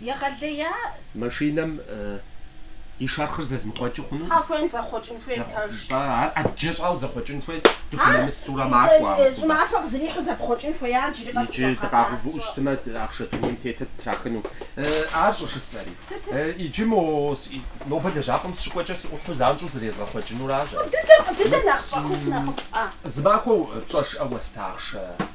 Егъэлея! Машинэм и шэрхъыр зэзмыхъуэкӏыу хъуну? Тхьэ, хуейм зэхъуэкӏын хуейм пэж. Тӏэ, ар ӏэджэ щӏауэ зэхъуэкӏын хуейт, дыхунэмысурэ макӏуэ армыхъумэ. Щӏымахуэ къызэрихьу зэпхъуэкӏын хуеят, иджыри къэс Иджы къыхуагъэсащ сэ. дыкъагъэувыӏэу щытмэ, ахъшэ дунейм тетыр ттрахыну. Ар щӏыжысӏэри? Сытыт? Иджы мо, нобэ лэжьапӏэм сыщыкӏуэкӏэ сыӏухьэу занщӏэу зрезгъэхъуэкӏынуращ. Дыдэ, дыдэ нэхъ щӏэхыху нэхъыфӏ, а? Зымахуэ пщӏэжрэ уэста ахъшэ.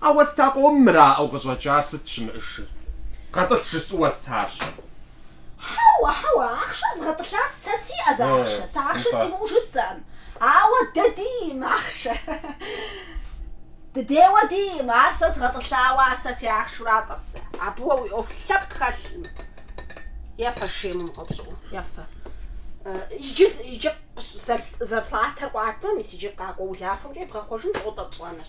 А уэста къомым мыраӏэу къыщӏэкӏар сыт щымыӏэжыр? Гъэтӏылъ жысӏэу уэстарщ. Хьэуэ, хьэуэ, ахъшэ згъэтӏылъа сэ сиӏэ зы ахъшэ, сэ ахъшэ симыӏэу жысӏэкъым. Ауэ дэ диӏэм ахъшэ. Дыдейуэ диӏэм, ар сэ згъэтӏылъауэ, ар сэ си ахъшэура тӏэ сэ. Абы уэ уи ӏуэху лъэпкъ хэлъым. Ефэ шейм умыгъэупщӏыӏуу, ефэ. Иджы, иджы зар, зарплатэр къуатмэ, мис иджы къакӏуэ улахуэмкӏэ ебгъэхъуэжынщ ло тӏэ тщӏэныр.